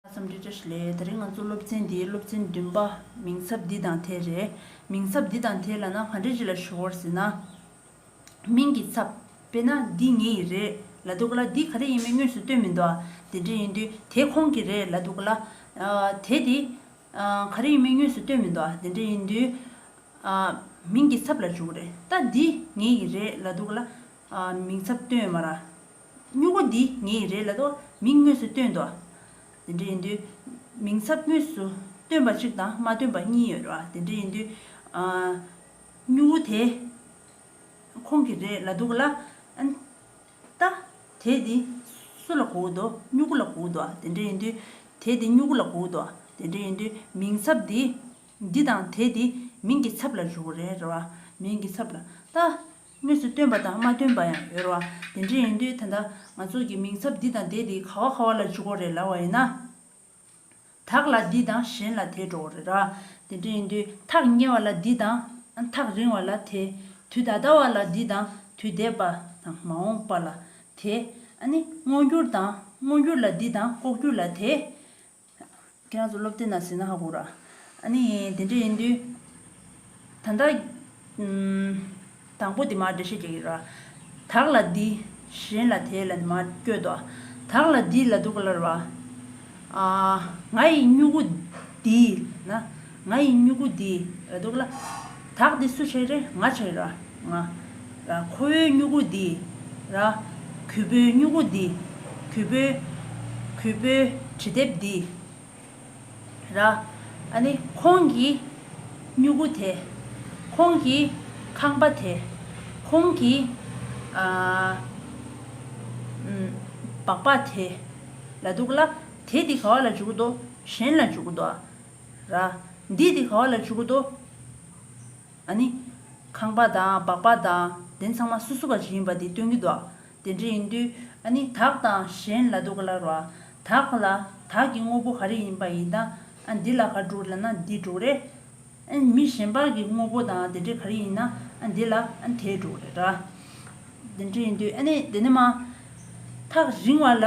བརྩམས་ཆོས་དཔྱད་གཞི་ལས་ད་རེས་ང་ཚོ་སློབ་ཚན་འདིའི་སློབ་ཚན་བདུན་པ་མིང་ཚབ་འདི་དང་དེ་རེད། མིང་ཚབ་འདི་དང་དེ་ལ་ན་ག་འགྲེལ་ཅི་ལ་ཞུ་བར་ཟེར་ན། མིང་གི་ཚབ་དཔེར་ན་འདི་ངའི་ཡི་རེད་ལ་འདུག་ག་ལ་དེ་ག་རེ་ཡིན་མིན་དངོས་སུ་སྟོན་མི་འདུག་དེ་འདྲ་ཡིན་དུས་དེ་ཁོང་གི་རེད་ལ་འདུག་ག་ལ། དེ་དེ་ག་རེ་ཡིན་མིན་དངོས་སུ་སྟོན་མི་འདུག་དེ་འདྲ་ཡིན་དུས། མིང་གི་ཚབ་ལ་འཇུག་ག་རེད་ད་འདི་ངའི་ཡི་རེད་ལ་འདུག་ག་ལ། མིང་ཚབ་སྟོན་མ་ར། སྨྱུ་གུ་འདི་ངའི་རེད་ལ། མིང་དངོས་སུ་སྟོན་དོ། དེ་འདྲ་ཡིན་དུས། མིང་ཚབ་དངོས་སུ་སྟོན་པ་གཅིག་དང་མ་སྟོན་པ་གཉིས་ཡོད། དེ་འདྲ་ཡིན་དུས། སྨྱུ་གུ་དེ་ཁོང་གི་རེད་ལ་འདུག་ལ། ད། དེ་འདི་སུ་ལ་གོ་འུ་དོ། སྨྱུ་གུ་ལ་གོ་འུ་དོ། དེ་འདྲ་ཡིན་དུས། དེ་འདི་སྨྱུ་གུ་ལ་གོ་འུ་དོ། དེ་འདྲ་ཡིན་དུས། མིང་ཚབ་འདི། འདི་དང་དེ་འདི། མིང་གི་ཚབ་ལ་འཇུག་རེད། མིང་གི་ཚབ་ལ། ད། དངོས་སུ་སྟོན་པ་དང་མ་སྟོན་པ་ཡང་ཡོད་རོ། དེ་འདྲ་ཡིན་དུས་ད་ལྟ་ང་ཚོ་གི་མིང་ཚབ་འདི་དང་དེ་དེ་ག་བ་ག་བ་ལ་འཇུག་གོ་རེ་ལ་བ་ཡིན་ན། དག་ལ་འདི་དང་གཞན་ལ་དེ་འགྲོ་གོ་རེ་ར། དེ་འདྲ་ཡིན་དུས་ཐག་ཉེ་བ་ལ་འདི་དང། ཐག་རིང་བ་ལ་དེ། དུས་ད་ལྟ་བ་ལ་འདི་དང་དུས་འདས་པ་དང་མ་འོངས་པ་ལ་དེ། སྔོ་འགྱུར་དང་སྔོ་འགྱུར་ལ་འདི་དང་ལྐོག་གྱུར་ལ་དེ། ཁྱེད་རང་ཚོ་སློབ་དེབ་ནང་ཟིན་ན་ཧ་གོ་ར་ཨ་ནི་ཡིན་དེ་འདྲ་ཡིན་དུས། ད་ལྟ། དང་པོ་དེ་མར་འགྲེལ་བཤད་བྱེད་ཀྱི་ར། དག་ལ་འདི། གཞན་ལ་དེ་ལ་ནི་མར་བསྐྱོད་དོ། དག་ལ་འདི་ལ་དུ་ག་ལ་ར། ང་ཡི་སྨྱུ་གུ་འདི་ན། ང་ཡི་སྨྱུ་གུ་འདི་འོ་དོག་ལ། དག་འདི་སུ་བྱས་རེ་ང་བྱས་ར་ང། ར། ཁོ་བོའི་སྨྱུ་གུ་འདི་ར། གུས་པོའི་སྨྱུ་གུ་འདི་གུས་པོའི། གུས་པོའི་དྲི་དེབ་འདི་ར། ཨ་ནི་ཁོང་གི་སྨྱུ་གུ་དེ། ཁོང་གི་ཁང་པ་དེ། ཁོང་གི། སྦག་སྦག་དེ། ལ་འདུག་ལ། དེ་འདི་ག་བ་ལ་འཇུག་གི་འདུག་གཞན་ལ་འཇུག་གི་འདུག་ཨ། ར། འདིས་དེ་ག་བ་ལ་བྱུག་གོ་དོ། ཨ་ནི། ཁང་པ་དང་སྦག་སྦག་དང་དེ་ཚང་མ་སུ་སུ་བ་ཞིག་ཡིན་པ་དེ་སྟོན་གྱི་འདུག་དེ་འདྲ་ཡིན་དུས་ཨ་ནི་དག་དང་གཞན་ལ་དུ་ག་ལ་རོ། དག་ལ་དག་གི་དངོས་པོ་ག་རེ་ཡིན་པ་ཡིན་ད་ཨ་འདི་ལ་ག་དྲུག་ལ་ན་འདི་དྲུག་རེད། ཨ་ནི་མི་གཞན་པ་གི་དངོས་པོ་དང་དེ་འདྲ་ག་རེ་ཡིན་ན་ཨ་འདི་ལ་ཨ་ནི་དེ་དྲུག་རེད་ར། དེ་འདྲ་ཡིན་དུས་ཨ་ནི་དེ་ནི་མ། ཐག་རིང་བ་ལ།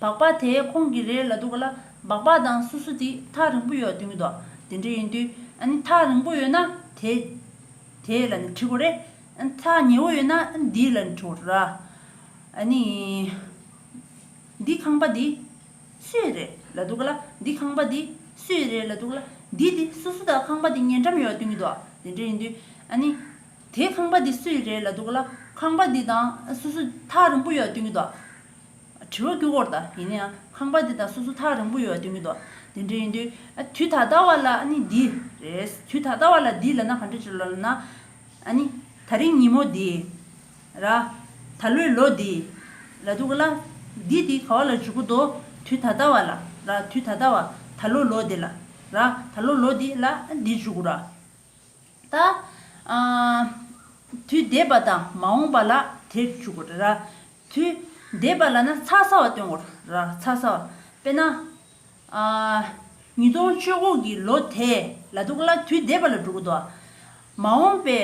སྦག་སྦག་དེ་ཁོང་གི་རེད་ལ་འདུག་ག་ལ་སྦག་སྦག་དང་སུ་སུ་དེ་ཐག་རིང་པོ་ཡོད་དེ་མི་འདུག་དེ་འདྲ་ཡིན་དུས་ཨ་ནི་ཐག་རིང་པོ་ཡོད་ན་དེ་དེ་ལ་ནི་འཁྲིག་གོ་རེ་ཨ་ནི་ཐག་ཉེ་བོ་ཡོད་ན་ཨ་ནི་དེ་ལ་ནི་འཁྲིག་གོ་ར་ཨ་ནི་འདི་ཁང་པ་འདི་སུ་ཡི་རེད་ལ་འདུག་ག་ལ་འདི་ཁང་པ་འདི་སུ་ཡི་རེད་ལ་འདུག་ག་ལ་འདི་དེ་སུ་སུ་དང་ཁང་པ་དེ་ཉེ་འགྲམ་ཡོད་དེ་མི་འདུག་དེ་འདྲ་ཡིན་དུས་ཨ་ནི། དེའི་ཁང་པ་འདི་སུའི་རེད་ལ་འདུག་ལ་ཁང་པ་འདི་དང་སོ་སོ་ཐག་རིང་པོ་ཡོད་ལྟོས་གི་འདུག་དྲི་བ་ཀུན་བསྐོར་དང་ཡིན་ན་ཡང་ཁང་པ་འདི་དང་སོ་སོ་ཐག་རིང་པོ་ཡོད་ལྟོས་གི་འདུག་དེ་འདྲ་ཡིན་དུས་དུས་ད་ལྟ་བ་ལ་ནི་འདི་རེད་དུས་ད་ལྟ་བ་ལ་འདི་ལ་ན་ག་འདྲ་བྱེད་ལོ་ལ་ན་ནི་ད་རིང་ཉིན་མོ་འདི་ར་ད་ལོའི་ལོ་འདི་ལ་འདུག་ལ་འདི་དེ་ག་བ་ལ་འཇུག་གི་འདུག་དུས་ད་ལྟ་བ་ལ་ར་དུས་ད་ལྟ་བ་ད་ལོ་ལོ་འདི་ལ་ར་ད་ལོ་ལོ་འདི་ལ་འདི་འཇུག་གི་ར། ད། དུས་འདས་པ་དང་མ་འོངས་པ་ལ་དེར་འཇུག་གོ། དུས་འདས་པ་ལ་ན་ཚ་ཚ་བ་སྟོན་གོ། ཚ་ཚ་བ། དཔེར་ན། ཉིས་སྟོང་བཅོ་དགུ་གི་ལོ་དེ་ལ་འདུག་ལ་དུས་འདས་པ་ལ་འགྲོ་གི་འདུག། མ་འོངས་པའི།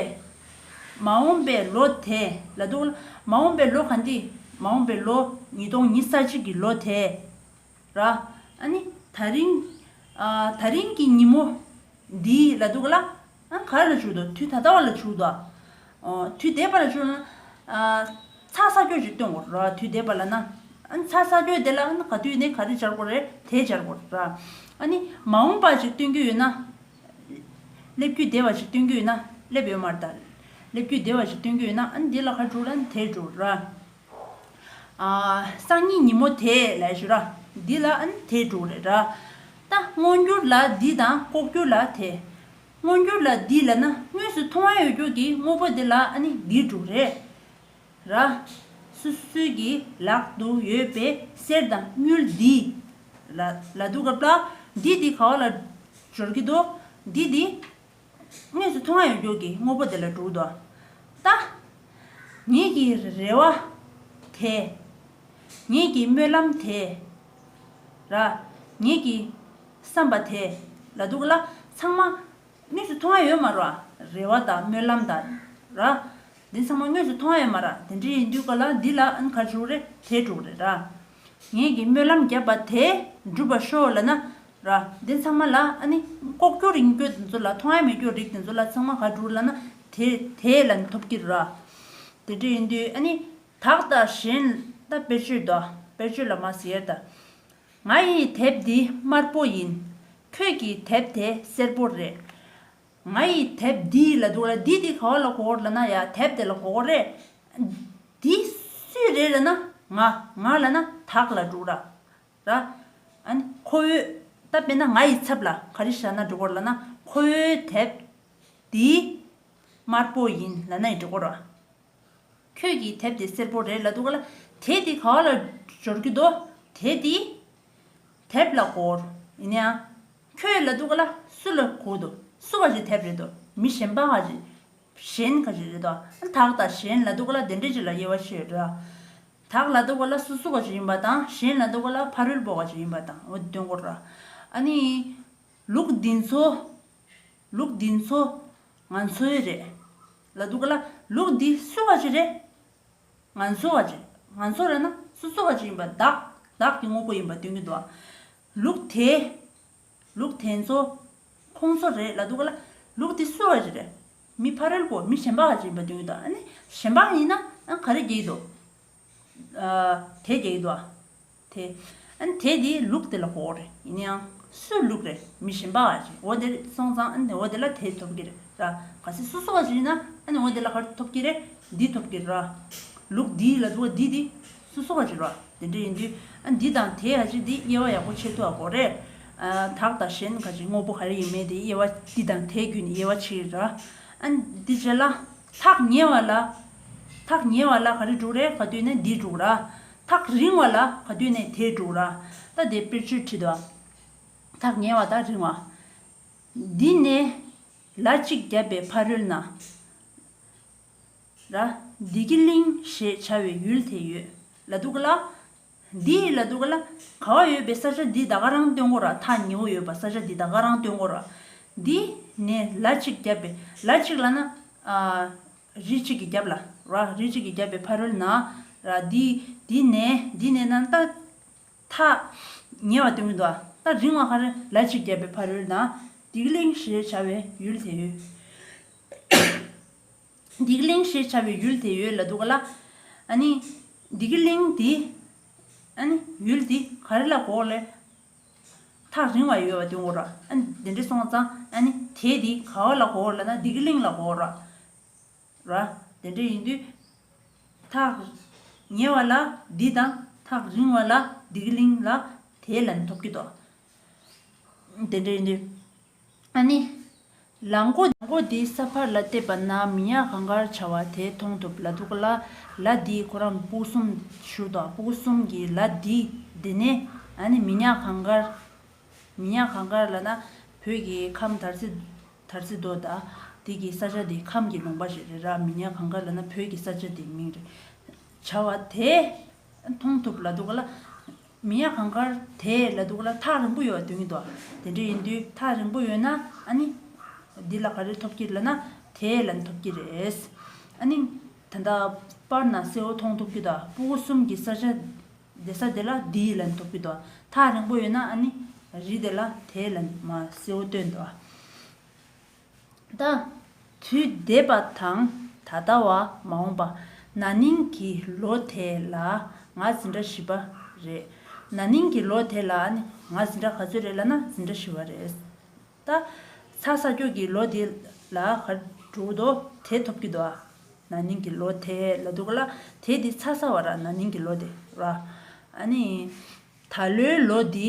མ་འོངས་པའི་ལོ་དེ་ལ་འདུག་ལ། མ་འོངས་པའི་ལོ་གང་དེ། མ་འོངས་པའི་ལོ། ཉིས་སྟོང་ཉིས་ས་གཅིག་གི་ལོ་དེ། ར། ཨ་ནི། ད་རིང། ད་རིང་གི་ཉིན་མོ། འདི། ལ་འདུག་ག་ལ། ག་རེ་ལ་བྱུག་ཏོ་དུས་ད་ལྟ་བ་ལ་བྱུག་ཏོ། དུས་འདས་པ་ལ་བྱུག། ཚག་ས་ཀྱོ་ཞིག་སྟོན་དགོ་ར་དུས་འདས་པ་ལ་ན། ཚག་ས་ཀྱོ་དེ་ལ་ག་དུས་ནས་ག་རེ་སྦྱར་དགོ་རེ་དེ་སྦྱར་དགོ་ར། ཨ་ནི། མ་འོངས་པ་ཞིག་སྟོན་རྒྱུ་ཡོད་ན། སླེབས་རྒྱུ་འདས་པ་ཞིག་སྟོན་རྒྱུ་ཡོད་ན་སླེབས་ཡོད་མ་རེད་ད། སླེབས་རྒྱུ་འདས་པ་ཞིག་སྟོན་རྒྱུ་ཡོད་ན་ཨ་ནི་དེ་ལ་ག་རེ་བྱུག་ལ་ནི་དེ་བྱུག་ར། སང་ཉིན་ཉིན་མོ་དེ་ལས་ཞུ་ར། འདི་ལ་ཨན་དེ་དྲུག་རེ་ར། ད་སྔོ་འགྱུར་ལ་འདི་དང་ལྐོག་འགྱུར་ལ་དེ། སྔོ་འགྱུར་ལ་འདི་ལས་ན་དངོས་སུ་མཐོང་བ་ཡོད་རྒྱུ་གི་དངོས་པོ་དེ་ལ་ཨན་འདི་དྲུག་རེ་ར། སུ་སུའི་གི་ལག་ཏུ་ཡོད་པའི་གསེར་དང་དངུལ་འདི་ལ་ལ་འདུག་ག་པ། འདི་འདི་ག་བ་ལ་འབྱོར་གི་འདུག་འདི་འདི། དངོས་སུ་མཐོང་བ་ཡོངས་གྱུར་གྱི་དངོས་པོ་དེ་ལ་དྲུག་ཏུ་བལྟ། ཉིད་ཀྱི་རེ་བ་དེས། ཉིད་ཀྱི་སྨོན་ལམ་དེས། ར། ཉིད་ཀྱི་བསམ་པ་དེས། ལ་དུག་ལ། ཚང་མ། དངོས་སུ་མཐོང་བ་ཡོད་མ་རོ། རེ་བ་དང་སྨོན་ལམ་དང། ར། འདི་ཚང་མ་དངོས་སུ་མཐོང་བ་ཡོད་མ་ར། དེ་འདྲ་ཡིན་དུས་ག་ལ་འདི་ལ་ཨན་གར་བྱུག་རེ་དེས་དྲུག་རེ་ར། ངེད་ཀྱིས་སྨོན་ལམ་བརྒྱབ་པ་དེ་འགྲུབ་པར་ཤོག་ལ་ན། ར། འདི་ཚང་མ་ལ་ཨ་ནི། ལྐོག་གྱུར་ཡིན་སྐྱོད་དེ་ཚོ་ལ་མཐོང་ཡ་མི་སྐྱོད་རིགས་དེ་ཚོ་ལ་ཚང་མ་ག་དྲུག་ལ་ན། དེ་དེ་ལ་ནི་ཐོབ་ཀྱི་ར། དེ་འདྲ་ཡིན་དུས་ཨ་ནི། དག་ལྟ་གཞན་ལྟ་དཔེར་བརྗོད་དོ། དཔེར་བརྗོད་ལ་མ་ཟེར་ད། ང་ཡི་དེབ་འདི་དམར་པོ་ཡིན། ཁྱོད་ཀྱི་དེབ་དེ་སེར་པོ་རེད། ང་ཡི་དེབ་འདི་ལ་འདུག་ལ་འདི་དེ་ག་བ་ལ་གོ་གོར་ལ་ན་ཡ་དེབ་དེ་ལ་གོ་གོ་རེད། འདི་སུས་རེད་ལ་ན་ང་ང་ལ་ན་དག་ལ་འདུག་ར་ར། ཁོ་བོས་ད་དཔེ་ན་ང་ཡི་ཚབ་ལ་ག་རི་བཞག་ན་འགྲོ་གོར་ལ་ན་ཁོ་བོའི་དེབ་འདི་དམར་པོ་ཡིན་ལ་ན་ཡི་འགྲོ་གོ་ར། ཁྱོད་ཀྱི་དེབ་དེ་སེར་པོ་རེད་ལ་འདུག་ལ་དེ་དེ་ག་བ་ལ་འབྱོར་གྱི་འདུག་དེ་དེ་དེབ་ལ་གོར་ཡིན་ཡང། ཁྱོད་ལ་དུག་ལ་སུ་ལ་གོ་དུ་སུ་ག་རེ་དེབ་རེད་དུ་མི་གཞན་པ་ག་རེ་གཞན་ག་རེ་རེད་དུ་དག་དང་གཞན་ལ་དུག་ལ་དེ་འདྲེ་ཅི་ལ་དབྱེ་བ་ཤེས་རོགས། དག་ལ་དུག་ལ་སུ་སུ་ག་རེ་ཡིན་པ་དང་གཞན་ལ་དུག་ལ་ཕ་རོལ་པོ་ག་རེ་ཡིན་པ་དང་འོ་དོན་གོ་རོགས། ཨ་ནི། ལུགས་འདི་ཚོ། ལུགས་འདི་ཚོ། ང་ཚོའི་རེད། ལ་དུག་ལ་ལུགས་འདི་སུ་ག་རེ་རེད། ང་ཚོ་ག་རེ། ང་ཚོ་རེད་ན་སུ་སུ་ག་རེ་ཡིན་པ་དག་དག་གི་དངོས་པོ་ཡིན་པ་སྟོན་གྱི་འདུག། ལུག་དེ། ལུག་དེ་ཚོ། ཁོང་ཚོ་རེད་ལ་འདུག་ལ། ལུག་དེ་སུ་བ་རེད། མི་ཕ་རོལ་པོ་མི་གཞན་པ་ཡིན་པ་འདུག་ད་ནི་གཞན་པ་ཡིན་ན་ག་རེ་རྒྱག་འདུག། དེ་རྒྱག་འདུག་དེ། དེ་དེ་ལུག་དེ་ལ་གོ་རེད་ཡིན་ཡང་སུ་ལུག་རེད་མི་གཞན་པ་རེད་འོ་དེར་སོང་ཙང་འོ་དེ་ལ་དེ་ཐོབ་གི་རེད་ར། ག་ཚད་སུ་སུ་བ་ཞིག་ཡིན་ན་འོ་དེ་ལ་ག་རེ་ཐོབ་གི་རེད་འདི་ཐོབ་གི་རེད་ར། ལུག་འདི་ལ་འདུག་འདི་དེ། སུ་སོགས་པ་བརྗོད་པ་དེ་འདྲ་ཡིན་དུས། འདི་དང་དེའི་ཨ་ཅེ་འདི་དབྱེ་བ་ཡག་པོ་ཕྱེ་ཐུབ་པ་གོ། རེད་དག་དང་གཞན་ག་ཅིག་དངོས་པོ་ག་རེ་ཡིན་མིན་དེ་དབྱེ་བ་འདི་དང་དེ་བརྒྱུད་ནས་དབྱེ་བ་ཕྱེ་རེད། དེ་རྗེས་ལ། ཐག་ཉེ་བ་ལ། ཐག་ཉེ་བ་ལ་ག་རེ་འགྲུག་རེད་ག་དུས་ནས་འདི་འགྲུག་ར། ཐག་རིང་བ་ལ་ག་དུས་ནས་དེ་འགྲུག་ར། ད་དེ་དཔེར་བརྗོད་བྲིས་འདུག། ཐག་ཉེ་བ་དང་རིང་བ། འདི་ནས་ལ་གཅིག་བརྒྱབ་པའི་ཕ་རོལ་ན། ལ། བདུད་ཀྱི་གླིང་ཞེས་བྱ་བའི་ཡུལ་དེ་ཡོད་ལ་འདུག་ག་ལ། འདི་ཡི་ལ་འདུག་ག་ལ། ག་བ་ཡོད་པའི་ས་ཆ་འདི་ད་ག་རང་སྟོན་གོ་ར་ཐ་ཉི་བོ་ཡོད་པ་ས་ཆ་འདི་ད་ག་རང་སྟོན་གོ་ར། འདི་ནས་ལ་གཅིག་བརྒྱབ་པས་ལ་གཅིག་ལ་ན། རི་གཅིག་གི་རྒྱབ་ལ་ར་རི་གཅིག་གི་རྒྱབ་པའི་ཕ་རོལ་ན། ར་འདི་འདི་ནས་འདི་ནས་ན་ད། ཐ་ཉེ་བ་སྟོན་གི་འདུག་ག་ད་རིང་བ་ག་རེ་ལ་གཅིག་བརྒྱབ་པའི་ཕ་རོལ་ན། བདུད་ཀྱི་གླིང་ཞེས་བྱ་བའི་ཡུལ་དེ་ཡོད། འདིག་གླིང་ཞེས་བྱ་བའི་ཡུལ་དེ་ཡོད་ལ་འདུག་ག་ལ། འདིག་གླིང་དེ། ཡུལ་དེ་ག་རེ་ལ་གོ་ག་ལ། ཐག་རིང་བ་ཡོད་བ་དེ་གོ་ར། དེ་འདྲ་སོང་ཙང། དེ་དེ་ག་བ་ལ་གོ་ག་ལ་ན་འདིག་གླིང་ལ་གོ་ར། དེ་འདྲ་ཡིན་དུས། ཐག་ཉེ་བ་ལ་འདི་དང་ཐག་རིང་བ་ལ་འདིག་གླིང་ལ་དེ་ལན་ཐོབ་ཀྱི་ཏོ། དེ་འདྲ་ཡིན་དུས། ཨཱ་ནི། ལག་མགོ། ལག་མགོ་དེ་ས་ཕར་ལ་བལྟས་པ་ན་མི་ཡག་གང་དགར་བྱ་བ་དེ་མཐོང་ཐུབ་ལ་འདུག་ལ། ལ་དེའི་ཁོ་རང་སྤུ་གསུམ་བཞུར་དང་སྤུ་གསུམ་གྱི་ལ་དེ་དེ་ནས་ཨཱ་ནི་མི་ཡག་གང་དགར། མི་ཡག་གང་དགར་ལ་ན་བོད་ཀྱི་ཁམས་དར་རྩི། དར་རྩི་རྡོ་དང། དེ་གི་ས་ཆ་དེ་ཁམས་ཀྱི་ལུང་པ་ཞིག་རེད་ར་མི་ཡག་གང་དགར་ལ་ན་བོད་ཀྱི་ས་ཆ་དེའི་མིང་རེད། བྱ་བ་དེ་མཐོང་ཐུབ་ལ་འདུག་ལ། མི་ཡ་གང་དགར་དེ་ལ་འདུག་ལ་ཐག་རིང་པོ་ཡོད་དོན་གྱི་འདུག་དེ་འདྲ་ཡིན་དུས་ཐག་རིང་པོ་ཡོད་ན་ཨ་ནི། འདི་ལ་ག་རེ་ཐོབ་ཀྱི་ལ་ན་དེ་ལ་ནི་ཐོབ་ཀྱི་རེད། ཨ་ནི། ད་ལྟ་པར་ན་གསལ་བོ་མཐོང་ཐུབ་ཀྱི་འདུག་སྤུ་གུ་གསུམ་གྱི་ས་ཆ་དེ་ས་དེ་ལ་འདི་ལ་ནི་ཐོབ་ཀྱི་འདུག་ཐག་རིང་པོ་ཡོད་ན་ཨ་ནི། རི་དེ་ལ་དེ་ལ་ནི་མ་གསལ་བོ་སྟོན་འདུག། དང། དུས་འདས་པ་དང་ད་ལྟ་བ་མ་འོངས་པ། ན་ནིང་གི་ལོ་དེ་ལ་ང་ཟིན་གྲྭ་བཞི་པ་རེད། ན་ནིང་གི་ལོ་དེ་ལ་ནི་ང་ཟིན་གྲྭ་ག་ཚོད་རེད་ལ་ན་ཟིན་གྲྭ་བཞི་བ་རེད། ད་ཚ་ས་ཁྱོད་ཀྱིས་ལོ་དེ་ལ་ག་འགྲོ་འདོ་དེ་ཐོབ་ཀྱི་འདོ་ཨ། ན་ནིང་གི་ལོ་དེ་ལ་འདུག་ག་ལ་དེ་དེ་ཚ་ས་བ་ར་ན་ནིང་གི་ལོ་དེ་ར། ཨ་ནི། ད་ལོའི་ལོ་འདི།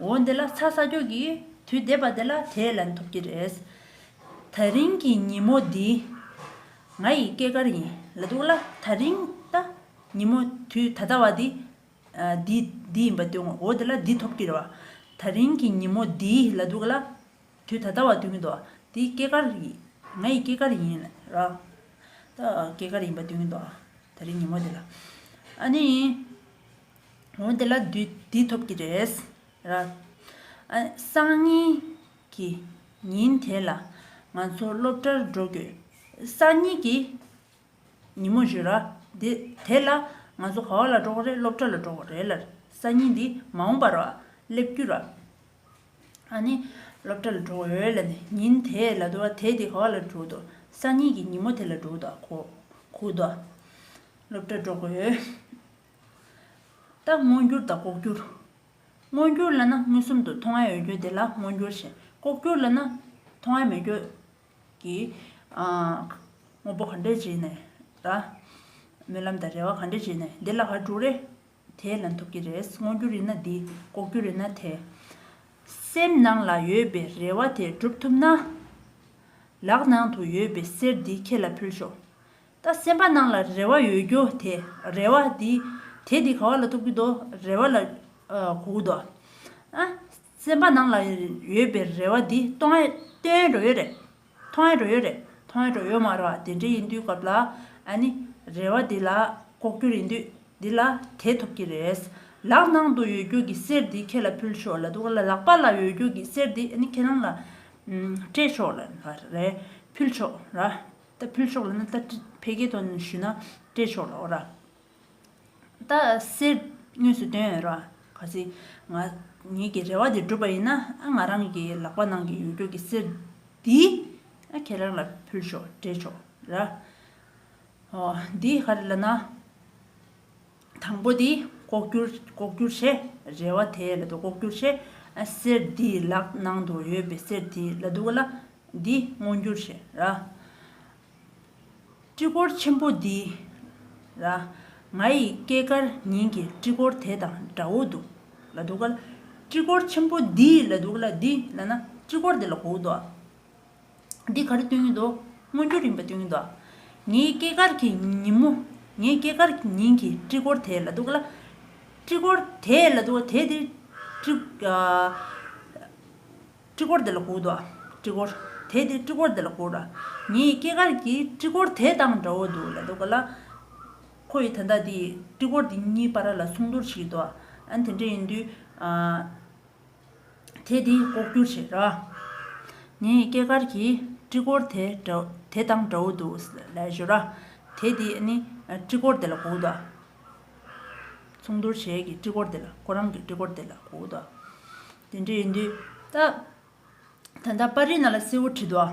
འོ་འདི་ལ་ཚ་ས་འགྱོག་གི་དུས་འདས་པ་འདི་ལ་དེས་ལན་ཐོབ་ཀྱི་རེད། ད་རིང་གི་ཉིན་མོ་འདི་ང་ཡི་སྐྱེས་སྐར་ཡིན་ལ་འདུག་ལ་ད་རིང་ད་ཉིན་མོ་དུས་ད་ལྟ་བ་འདི་འདི་འདི་ཡིན་པ་དུས་ངོ་འོ་འདི་ལ་འདི་ཐོབ་ཀྱི་རེད་བ་ད་རིང་གི་ཉིན་མོ་འདི་ལ་འདུག་ལ་དུས་ད་ལྟ་བ་དུས་ངི་འདུག་འདི་སྐྱེས་སྐར་ང་ཡི་སྐྱེས་སྐར་ཡིན་ལ་ད་སྐྱེས་སྐར་ཡིན་པ་དུས་ངི་འདུག་ད་རིང་ཉིན་མོ་འདི་ལ་ཨ་ནི། འོ་དེ་ལ་བདུད་འདི་ཐོབ་ཀྱི་རེད། སང་ཉིན་གྱི་ཉིན་དེ་ལ་ང་ཚོ་སློབ་གྲྭར་འགྲོ་དགོས། སང་ཉིན་གྱི་ཉིན་མོ་བཞི་ར། དེ་ལ་ང་ཚོ་ག་བ་ལ་འགྲོ་གི་རེད་སློབ་གྲྭ་ལ་འགྲོ་གི་རེད། སང་ཉིན་འདི་མ་འོངས་པར་སླེབས་རྒྱུ་ར། ཨ་ནི་སློབ་གྲྭ་ལ་འགྲོ་གི་རེད་ལ་ནི་ཉིན་དེ་ལ་དོ་དེ་དེ་ག་བ་ལ་འགྲོ་དོ། སང་ཉིན་གྱི་ཉིན་མོ་དེ་ལ་འགྲོ་དོ་གོ། སློབ་གྲྭ་འགྲོ་གི་རེད། ལྟ། མངོན་གྱུར་དང་ལྐོག་གྱུར། མངོན་གྱུར་ལ་ན་མངོན་སུམ་དུ་མཐོང་ང་འོད་གྱུར་དེ་ལ་མངོན་གྱུར་ཞེས། ལྐོག་གྱུར་ལ་ན་མཐོང་ང་མི་འོད་ཀྱི། དངོས་པོ་གང་འདྲས་བྱས་ནས་ལ། སྨོན་ལམ་དང་རེ་བ་གང་འདྲས་བྱས་ནས་འདི་ལ་ག་དྲུག་རེ། དེས་ལན་ཐོབ་ཀྱི་རེད་མངོན་གྱུར་ཡིན་ན་འདི་ལྐོག་གྱུར་ཡིན་ན་དེ། སེམས་ནང་ལ་ཡོད་པའི་རེ་བ་དེ་འགྲུབ་ཐུབ་ན། ལག་ནང་དུ་ཡོད་པའི་གསེར་འདི་ཁྱེད་ལ་ཕུལ་ཤོག། ད་སེམས་པ་སྣང་ལ་རེ་བ་ཡོད་རྒྱུ་དེ་རེ་བ་དེ་དེ་དེ་ག་བ་ལ་ཐུག་གི་འདུག་རེ་བ་ལ་གོ་གི་འདུག་ཨ། སེམས་པ་སྣང་ལ་ཡོད་པའི་རེ་བ་དེ་སྟོང་ཨེ་སྟོན་འགྲོ་ཡོད་རེད། མཐོང་ཨེ་འགྲོ་ཡོད་རེད་མཐོང་ཨེ་འགྲོ་ཡོད་མ་རེད་དེ་འདྲ་ཡིན་དུས་སྐབས་ལ་ཨ་ནི་རེ་བ་དེ་ལ་ལྐོག་གྱུར་ཡིན་དུས་དེ་ལ་དེ་ཐུབ་ཀྱི་རེད། ལག་ནང་དུ་ཡོད་རྒྱུ་གི་གསེར་དེ་ཁྱེད་ལ་ཕུལ་ཆོག་ལ་འདུག་ལ་ལག་པ་ལ་ཡོད་རྒྱུ་གི་གསེར་དེ་ཨ་ནི་ཁྱེད་རང་ལ་སྤྲད་ཆོག་ལ་རེད་ཕུལ་ཆོག་ལ། ད་ཕུལ་ཆོག་ལ་ན་ད་ཕེ་གེ་དོ་ཞུ་ན་སྤྲད་ཆོག་ལ་འོ་ར། ད་སེར་དངོས་སུ་སྟོན་འོས་ར། ག་ཚི། ང་ཉིད་ཀྱི་རེ་བ་དེ་འགྲུབ་པ་ཡིན་ན་ཨ་ང་རང་གི་ལག་པ་ནང་གི་ཡོད་རྒྱུགས་ཀྱི་སེར་འདི་ཨ་ཁྱེད་རང་ལ་ཕུལ་ཆོག་སྤྲད་ཆོག་ར། འོ་འདི་ག་རེ་ལ་ན། དང་པོ་དེ་ལྐོག་གྱུར་ལྐོག་གྱུར་བྱེད་རེ་བ་དེ་ལ་དུ་ལྐོག་གྱུར་བྱེད་ཨ་གསེར་དེའི་ལག་ནང་དུ་ཡོད་པའི་གསེར་དེ་ལ་དུ་ག་ལ་འདི་སྔོ་འགྱུར་བྱེད་ར། སྤྲི་གོར་ཆེན་པོ་འདི་ར། ང་ཡི་སྐྱེས་སྐར་ཉིན་གྱི་སྤྲི་གོར་དེ་དང་འདྲ་བོ་འདུག་ལ་དུ་ག་ལ། སྤྲི་གོར་ཆེན་པོ་འདི་ལ་དུ་ག་ལ་འདི་ལ་ན་སྤྲི་གོར་དེ་ལ་གོག་འདུག་ཨ། འདི་ག་རེ་སྟོན་གྱི་འདུག་སྔོན་འགྲོ་རིམ་པ་སྟོན་གྱི་འདུག་ངའི་སྐྱེས་སྐར་གྱི་ཉིན་མོ། ངའི་སྐྱེས་སྐར་གྱི་ཉིན་གྱི་སྤྲི་གོར་དེ་ལ་འདུག་ག་ལ། སྤྲི་གོར་དེ་ལ་འདུག་ག་དེ་དེ། སྤྲི་གོར་དེ་ལ་གོ་འདུག་སྤྲི་གོར་དེ་དེ་སྤྲི་གོར་དེ་ལ་གོ་ར། ངའི་སྐྱེས་སྐར་གྱི་སྤྲི་གོར་དེ་དང་འདྲ་བོ་འདུག་ལ་འདུག་ག་ལ། ཁོ་ཡིས་ད་ལྟ་དེ་སྤྲི་གོར་དེ་གཉིས་པ་ར་ལ་སྲུང་བརྡོར་བྱེད་ཀྱི་འདུག་ཨ་དེ་འདྲ་ཡིན་དུས། དེས་དེ་ལྐོག་གྱུར་བྱེད། ངས་སྐྱེས་སྐར་གྱི་སྤྲི་གོར་དེ་དང་འདྲ་བོ་འདུག་ལས་ཞོར། དེས་དེ་སྤྲི་གོར་དེ་ལ་གོ་དགོས། མཚུངས་བསྡུར་བྱེད་ཀྱི་སྤྲི་གོར་དེ་ལ་ཁོ་རང་གི་སྤྲི་གོར་དེ་ལ་གོ་དགོས། དེ་འདྲ་ཡིན་དུས། ད་ལྟ་པར་རིས་ན་ལ་སེའུ་བྲི་འདུག།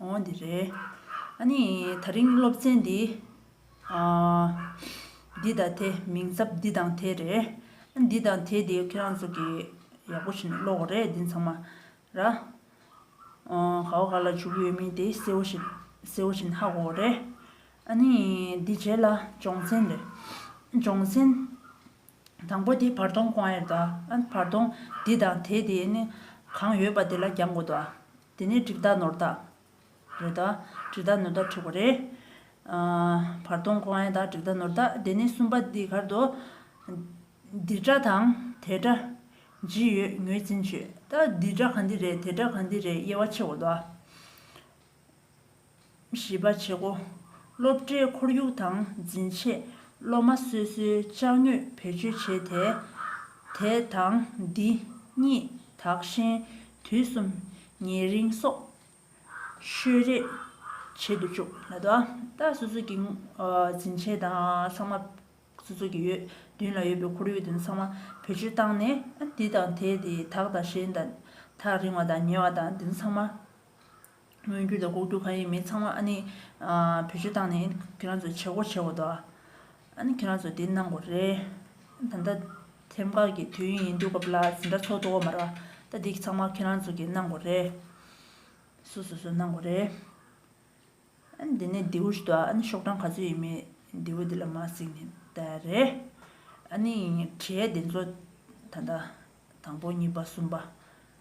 ཨོ་འདི་རེད། ཨཱ་ནི་ད་རིང་སློབ་ཚན་འདི། འདི་དང་དེ་མིང་ཚབ་འདི་དང་དེ་རེད། ཨཱ་འདི་དང་དེ་དེ་ཁྱེད་རང་ཚོ་གི་ཡག་པོ་བྱས་ནས་ཀློག་གོ་རེད་འདི་ཚང་མ་ར། ག་བ་ག་ལ་བྱུག་ཡོད་མིན་དེ་གསལ་བོ་ཞིག་གསལ་བོ་བྱས་ནས་ཧ་གོ་གོ་རེད། ཨཱ་ནི་འདི་རྗེས་ལ་སྦྱོང་ཚན་རེད། སྦྱོང་ཚན་དང་པོ་དེ་བར་སྟོང་ཀོང་ཨེར་ད། ཨཱ་བར་སྟོང་འདི་དང་དེ་དེ་ནི་གང་ཡོད་པ་དེ་ལ་རྒྱང་གོ་ད། དེ་ནས་གྲིབ་བདག་ནོར་བདག། རེད་ད། གྲིབ་བདག་ནོར་བདག་འཁྲུགས་པ་རེད། བར་སྟོང་ཀོ་ཨན་དང་གྲིབ་བདག་ནོར་བདག་དེ་ནས་གསུམ་པ་འདི་གར་དུ། འདི་དགྲ་དང་དེ་དགྲ། ཇི་ཡོད་ངོས་འཛིན་བྱོས། ད་འདི་དགྲ་ག་འདི་རེད་དེ་དགྲ་ག་འདི་རེད་དབྱེ་བ་ཕྱེ་འོ་ད། བཞི་པ་བྱེད་སྒོ། སློབ་གྲྭའི་ཁོར་ཡུག་དང་འཛིན་ཆས་སློབ་མ་སོ་སོའི་བཅག་ནུས་བེད་སྤྱོད་བྱས་ཏེ། དེ་དང་འདི་གཉིས་དག་གཞན་དུས་གསུམ་ཉེ་རིང་སོགས་ཤོད་རེས་བྱེད་དུ་བཅུག། ད་ལྟ་སོ་སོ་གི་འཛིན་ཆས་དང་ཚང་མ་སོ་སོ་གི་ཡོད་མདུན་ལ་ཡོད་པའི་ཁོར་ཡུག་དེ་ཚང་མ་བེད་སྤྱོད་བཏང་ནས་འདི་དང་དེ་དེ་དག་དང་གཞན་དག་རིང་བ་དང་ཉེ་བ་དང་དེ་ཚང་མ་སྔོན་རྒྱུ་དང་ལྐོག་རྒྱུ་གང་ཡིན་མིན་ཚང་མ་ཨ་ནི་བེད་སྤྱོད་བཏང་ནས་ཁྱེད་རང་ཚོས་བྱེད་སྒོ་བྱེད་འོ་དོ། ཨ་ནི་ཁྱེད་རང་ཚོས་དེ་གནང་དགོས་རེད། ད་ལྟ་ཐེམ་ཁ་གི་དུས་ཡུན་ཡིན་དུས་སྐབས་ལ་འཛིན་གྲྭ་ཚོགས་འདུག་གོ་མ་རེད། ད་འདི་ཚང་མ་ཁྱེད་རང་ཚོ་གིས་གནང་དགོས་རེད། སུ་སུ་སུ་གནང་དགོས་རེད། ཨ་ནི་འདི་ནས་རྡེའུ་ཞིག་འདུག་ཨ་ནི་ཤོག་གྲངས་ག་ཚོད་ཡིན་མིན་རྡེའུ་འདི་ལ་མ་གཟིགས་ནས་བལྟ་རེད། ཨ་ནི་གྲས་འདི་ཚོ་ད་ལྟ་དང་པོ་གཉིས་པ་གསུམ་པ།